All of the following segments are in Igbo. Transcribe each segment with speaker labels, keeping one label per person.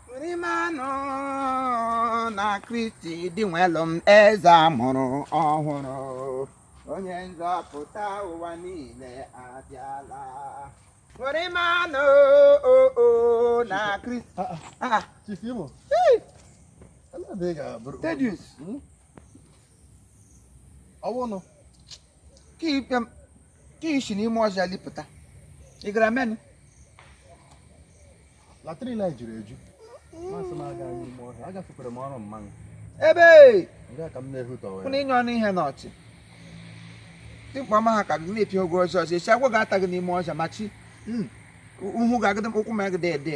Speaker 1: Ṅụrịwanụ na Kristi di nwelụ m eze a mụrụ ọhụrụ onye nzọpụta ụwa niile abịala Ṅụrịwanụ o o na Kristi Ah, ah, ah, Chief
Speaker 2: Imo. hey, Ala bụ ị
Speaker 1: ga-abụrụ. Thaddeus
Speaker 2: Ọwụnụ. ka ikpe m
Speaker 1: ka i si n'ime ọhịa lipụta ị gara
Speaker 2: menụ latrin anyị juru eju m sị m aga anyụ ime ọhịa agafekwara m ọrụ mmanụ ebe
Speaker 1: nga ka m
Speaker 2: na-ehutọwa kwụna inye ọnụ ihe
Speaker 1: n'ọchị dimkpa ọma ha ka gị na-epiogo ọhịa ọhịa esi agwọ ga-ata gị n'ime ọhịa ma chi uhu ga-agịdị ụkwụ ma gị dị ede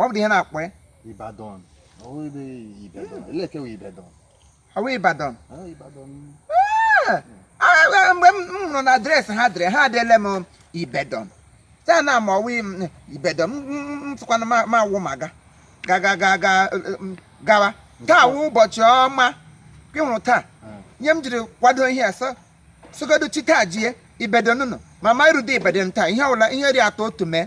Speaker 1: ọ bụ ihe a na-akpọ ya
Speaker 2: Ibadan ọwụ ebe Ibedon elee ke wụ Ibedon ọwụ Ibadan Ibadan
Speaker 1: ah! ah, mgbe m hụrụ na adreesị ha dere ha edele m Ibedon taa na ma ọwụ Ibedon m tụkwana ma awụ ma ga ga ga ga ga gawa taa wụ ụbọchị ọma gị hụrụ taa nye m jiri kwado ihe a sị sogodo chi taa jie Ibedon nụnụ ma ma irude Ibedon taa ihe ọbụla ihe ri atọ otu mee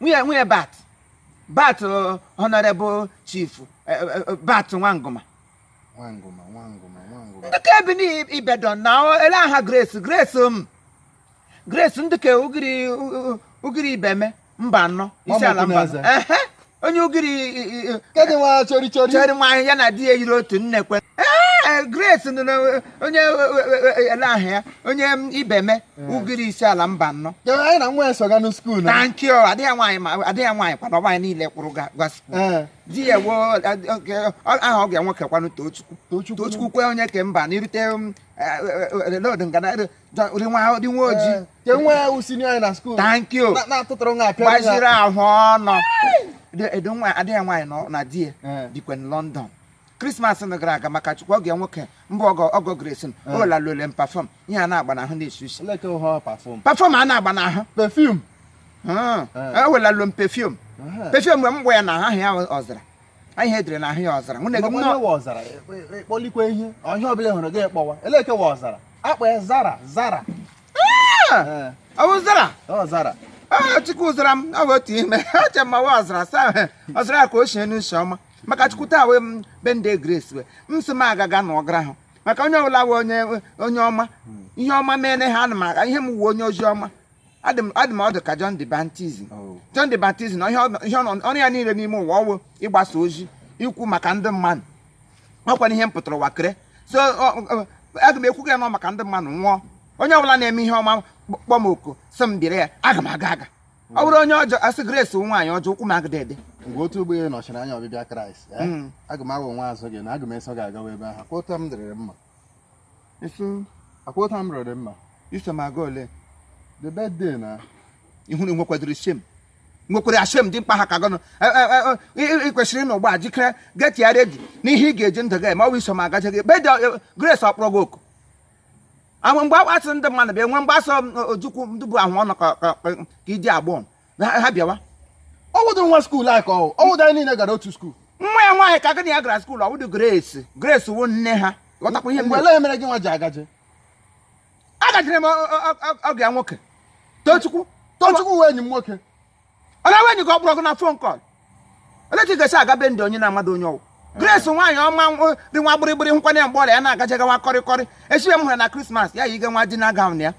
Speaker 1: nwunye nwunye bat bat uh, honorable chief uh, uh, bat nwangoma
Speaker 2: nwangoma nwangoma
Speaker 1: nwangoma ndị ke bi n'ibedon na elee aha grace grace m um, grace ndị ke ugiri ugiri ibeme mbano isiala mba onye ugiri ke dụ nwa chọrị
Speaker 2: chọrị chọrị nwa ya na di
Speaker 1: ya yiri otu nne kwe eh, grace onye e, e, e, elee aha ya onye ibeme ugiri isiala mbano anyị na nwa
Speaker 2: esoga na skuul na nke ọ adịghị nwaanyị ma
Speaker 1: adịghị nwaanyị kwana ọgba anyị niile kwụrụ ga skuul di ya wụ aha ọgọ ya nwoke kwanụ tochukwu tochukwu kwe onye ke mba na irute um, lod ngana dị nwa ojii ke nwa ya
Speaker 2: wusi anyị na skuul
Speaker 1: tankio gbaziri
Speaker 2: ahụ ọnụ
Speaker 1: adịghị nwaanyị na di ya dịkwa na London krismas nụ gara aga maka chukwu ọgọ ya nwoke mbụ ọgọ ọgọ grace o welalụle m pafọm ihe a na-agba n'ahụ na-esi isi Like how her
Speaker 2: perform. pafọm a na-agba n'ahụ
Speaker 1: Perfume. o welalụ m pefum Uh-huh. pefum mgbe m gba ya n'ahụ aha ya ọzara ihe e dere na ahụ ya ọzara nwunye gị Mgbe nne nwa
Speaker 2: ọzara, ịkpọlikwa ihe, ọ ihe ọbụla ị hụrụ gị kpọwa. Elee ke wụ ọzara. A kpọ ya zara, zara.
Speaker 1: Eh, ọ bụ zara Ọ zara.
Speaker 2: Ah, chukwu zara
Speaker 1: m ọ bụ otu ime acha mmawa ọzara saa ọzara ka o sie n'isi ọma maka chukwu taa wee m be nde grace wee m sị m agaga na ọgara ahụ maka onye ọbụla wụ onye onye ọma ihe ọma mere ha ana m aga ihe m wụ ọ onye ozi ọma adị m adị m ọdụ ka John the Baptist Oh. John the Baptist na ihe ọ- ihe ọ nọ- ọrụ ya niile n'ime ụwa ọwụ ịgbasa ozi ikwu maka ndị mmadụ ọkwanụ ihe m pụtara ụwa kere so ọ- ọ- aga m ekwu gị nọ maka ndị mmadụ nwụọ onye ọbụla na-eme ihe ọma kpọ m oku sị m bịara ya aga m aga aga ọ wụrụ onye ọjọọ a sị grace wụ nwaanyị ọjọọ ụkwụ m agịdị ede mgbe otu ụgbọ
Speaker 2: elu nọchiri anya ọbịbịa kraịst eh, Mm. aga m aghọ nwa azụ gị na aga m eso gị agawa ebe ahụ akwụta m dịrịrị mma iso akwụta m rịrị mma iso m aga ole
Speaker 1: the
Speaker 2: birthday na ihu na
Speaker 1: nwekwadoro shame nwekwere ya shame dị mkpa ha ka gọnụ ị kwesịrị ịnọ ugbu a jikere get ya ready n'ihe ị ga-eji ndụ gị eme ọ bụ iso m agaje gị birthday grace ọ kpọrọ gị oku ahụ mgbe akpasị ndị mmadụ bịa nwe mgbasa ojukwu ndị bụ ahụ ọnụ ka iji agbọọ ha bịawa ọ wụdụ nwa
Speaker 2: skuul a ka ọ wụdụ anyị niile gara otu skuul nwa ya nwaanyị ka gị
Speaker 1: na ya gara skuul ọ wụdụ grace grace wụ nne ha ghọtakwa ihe mgbe mere gị nwa ji agaje agajere m ọgụ ya nwoke tochukwu
Speaker 2: tochukwu wụ enyi m nwoke ọ na-enwe
Speaker 1: enyi ka ọ kpọrọ gị na fon kọl olee ka ị ga-esi aga be ndị onye na-amadụ onye ọ wụ grace nwaanyị ọma nwa- dị nwa gbịrịgbịrị nkwanye mgbe ọrịa ya na-agaje gawa kọrịkọrị echibe m hụrụ na krismas ya yi ga nwa dinner gawn ya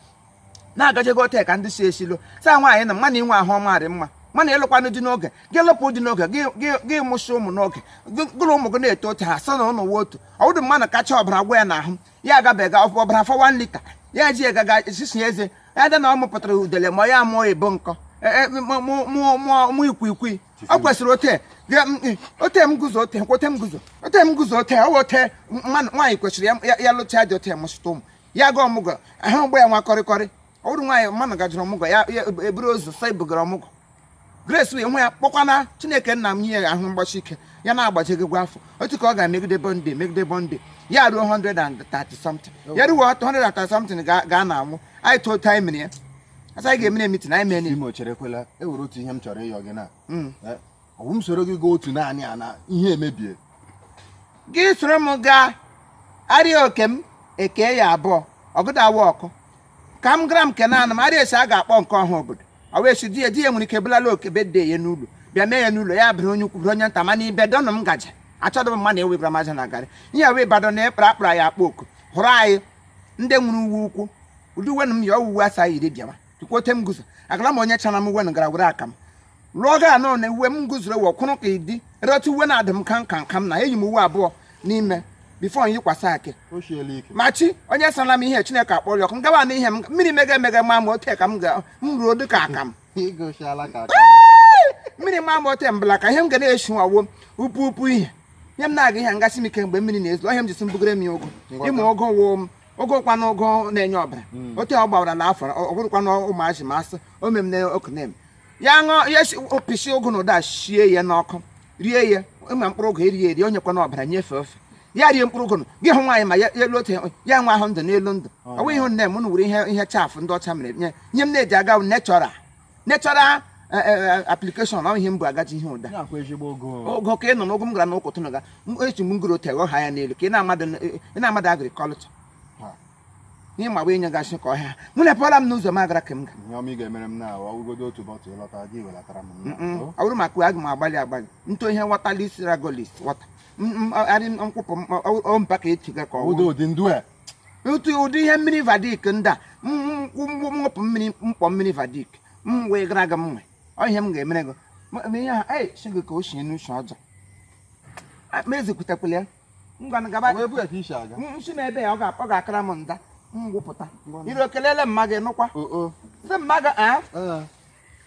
Speaker 1: na-agaje go tek ndị si esilo saa nwaanyị na mmanụ inwe ahụ ọma dị mma mana ịlụkwanụ di n'oge gị lụpụ di n'oge gị- gị- gị mụsị ụmụ n'oge gị- gụrụ ụmụ gị na-eto otu ha sị na ụnụ nwe otu ọ wụdụ mmadụ kacha ọbara gwụ ya n'ahụ ya agabiga ọbara afọ 1 lita ya ji egaga sisi eze ya dị na ọ mụpụtara udele ma ya mụọ ebo nkọ e, e, mụ ikwikwii ọ kwesịrị ote ote m guzo ote kwote m guzo ote m guzo ote ọ ote nwaanyị kwesịrị ya lụcha di ote mụsụta ụmụ ya ga ọmụgọ ahụ mgbe ya nwa kọrịkọrị ọ bụrụ nwaanyị mmanụ gajụrụ ọmụgọ ya eburu ozu sa ebugara ọmụgọ Grace wee nwe ya kpọkwana Chineke nna m nye ya ahụ gbasi ike ya na-agbajegịgwa afọ otu ka ọ ga-emegide birthday megide birthday ya ruo 130 something ya ruo 130 something ga na anwụ anyị tụọ taịmịn ya asa anyị ga-emere mitin anyị mee n'ime ocherekwela e nwere
Speaker 2: otu ihe m chọrọ ịyọ gị na hmm. eh, ọ wụ m soro gị gaa otu naanị a na ihe emebie gị
Speaker 1: soro m gaa arịa oke m eke ya abụọ ọgụda awa ọkụ ka m gara m kene ana m arịa esi a ga-akpọ nke ọha obodo ọ wee si di ya di ya nwere ike bulala oke birthday ya n'ụlọ bịa mee ya n'ụlọ ya bụrụ onye ukwu bụrụ onye nta mana ibe dọnụ m gaje achọdụ m mmadụ ewebara m aja na garị ihe wee badọ na ekpara akpara ya akpọ oku hụrụ anyị ndị nwere uwe ukwu ụdị uwe na m ya ọ wụ uwe asa yiri bịawa tukwuote m guzo agara m onye chana m uwe na gara were aka m lụọ gị anọ na uwe m gụzuru ewe kwụrụ ka ịdị reta uwe na-adị m ka nka nka m na eyi m uwe abụọ n'ime bifo m yikwasị akị ma chi onye sara m ihe chineke akpọrọ ọkụ m gawa na ihe m mmiri mega emega ma m ote ka m ga m ruo dị ka aka m mmiri ma m ote mbala ka ihe m ga na-eshi nwawo upu upu ihe ihe m na-aga ihe ngasị m ike mgbe mmiri na-ezo ihe m jisi mbugere m ya ụgụ ịmụ ụgụ woo m ụgụ kwa na ụgụ na-enye ọbara hmm. otu ọ gbawara na afọ ọ bụrụkwana ụmụazị ma asị o mem na okenem ya ṅụọ ya si opisi ụgụ na ụda sie ya n'ọkụ rie ya ịma mkpụrụ ụgụ erie eri onye kwana ọbara nyefee ofe ya rie mkpụrụ ụgụ gị hụ nwaanyị ma ya elu otu ya nwa ahụ ndụ n'elu ndụ ọ bụghị ihe nne m wuru ihe ihe chaff ndị ọcha mere nye m na-eji aga natural natural application ọ ihe m bụ agaji ihe ụda ogo ka ị nọ n'ụgụ m gara n'ụkwụ tụnụ ga echi m ngoro tegọ ha ya n'elu ka ị na-amadụ agriculture ihe ma bụ inye gasị ka ọhịa mụ na pụọla m n'ụzọ m agara ka m ga ihe ọma ị ga-emere m
Speaker 2: na ọgụgodo otu bọtụ ịlọta gị
Speaker 1: welatara m ọ bụrụ maka uwe aga m agbalị agbalị ntụ ihe water lis Ragolis water arị nkwụpụ ompa ka echi ga ka ọ wụdo ụdị ndụ a otu ụdị ihe mmiri vadik ndị a mwụpụ mmiri mkpọ mmiri vadik m wee gara aga m nwe ọ ihe m ga-emere gị ihe ha ee si gị ka o si n'uche ọjọọ ma ezikwutekwala ya ngwanụ gaba Ọ bụ ebe a ka isi aga M- m sị na ebe ya ọ ga- ọ ga-akara m nda m gwụpụta iro kelele mma gị nụkwa o o sị mma gị ee ee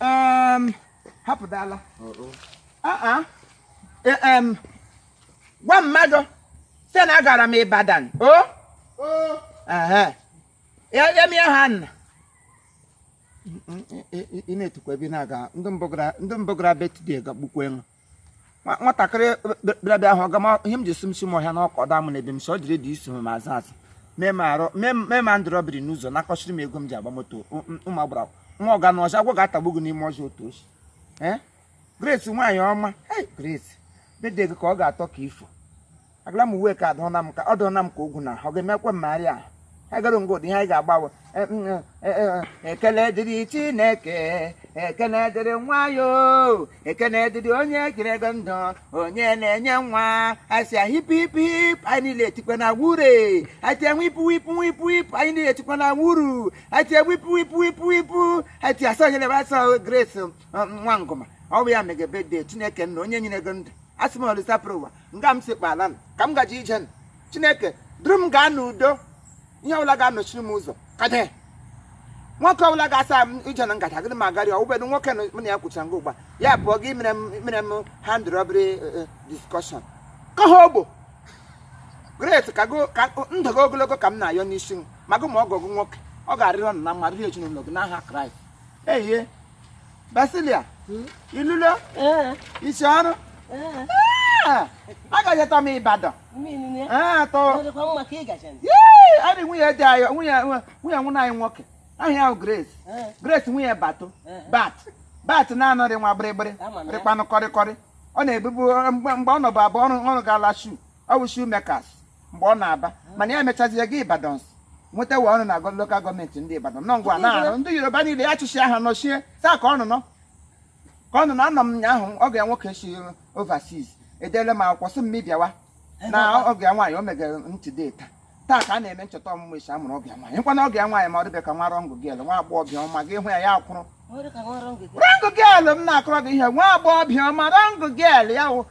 Speaker 1: Em, hapụdala o o Ah, ah. Eh, em, gwa mmadụ sị na agara m Ibadan o o Ehe. ya ya mie ha nna ị na-etukwa ebe ị na-aga ndị mbụ gara- ndị mbụ gara birthday gagbukwa ṅụ nwatakịrị bịabịa ahụ ọga m ihe m ji si m si m ọhịa na okada m na ebe m si ọ dịrị dị isi m ma azụ azụ mee m arụ mee ma ndị iro biri n'ụzọ nakọchiri m ego m ji agba moto ụmụ agbara nwa ọ ga n'ọhịa agwọ ga-atagbu gị n'ime ọhịa otu ochi Grace nwaanyị ọma Grace birthday gị ka ọ ga-atọ ka ifo agara m uwe ka adụna m ka ọ dụna m ka ogwu na ọ ga-emekwa mmegharị a agara ngo dị ihe anyị ga-agbawe E- m- e- e- ekele dịrị chineke ekele dịrị nwa ya o, ekele dịrị onye kere gị ndụ onye na-enye nwa a sị hip hip hip anyị niile etikwa na hurray atie wipụ wipụ wipụ wipụ anyị niile etikwa na wuru atie wipụ wipụ wipụ wipụ atie asọ nyere asọ grace um, nwa ngụma ọ bụ ya mege birthday chineke nna onye nyere gị ndụ asị m olisa buru ụwa nga m si kpala ka m gaji ije chineke duru m gaa n'udo ihe ọbụla ga-anọchiri m ụzọ kade nwoke ọbụla ga-asa m ije na ngaji agịrị m agarị ọ wụbedo nwoke m na ya kwụchara nga ugbu a ya bụ gị mere m hand robbery eh, eh, discussion ka ha ogbo grace ka ndụ gị ogologo ka m na-ayọ n'isi ma gụ ma ọgọ gụ nwoke ọ ga-arịrị ụnụ na mma rịrị ezinụlọ gị n'aha Christ ehie Basilia hmm? ilulo eh. isi ọrụ eh. Ah, agajeta m Ibadan ah, adị nwunye di anyị nwunye nwụna anyị nwoke aha ya wụ Grace eh. Grace nwunye bato bat bat na-anọrị nwa gbịrịgbịrị rịkpanụ kọrịkọrị ọ na-ebubu mgbe ọ nọbụ abụọ ọrụ ọrụ ga-ala shoe ọ bụ shoemakers mgbe ọ na-aba mana ya emechazie gaa Ibadan nwetawa ọrụ na agọ lokal gọọmenti ndị Ibadan nọ ngwa na arụ ndị Yoruba niile ya chịchị aha nọchie taa ka ọnụ nọ ka ọnụ nọ anọ m nyaahụ ọga nwoke esi overseas edele m akwụkwọ sị m mụ bịawa na ọga nwaanyị o megere ntị data taa ka a na-eme ncheta ọmụmụ isi a mụrụ ọga nwaanyị nkwa na ọga nwaanyị ma ọ dịbe ka nwa young girl nwa agbọghọbịa ọma gị hụ ya ya akwụrụ young girl m na-akọrọ gị ihe nwa agbọghọbịa ọma young girl ya wụ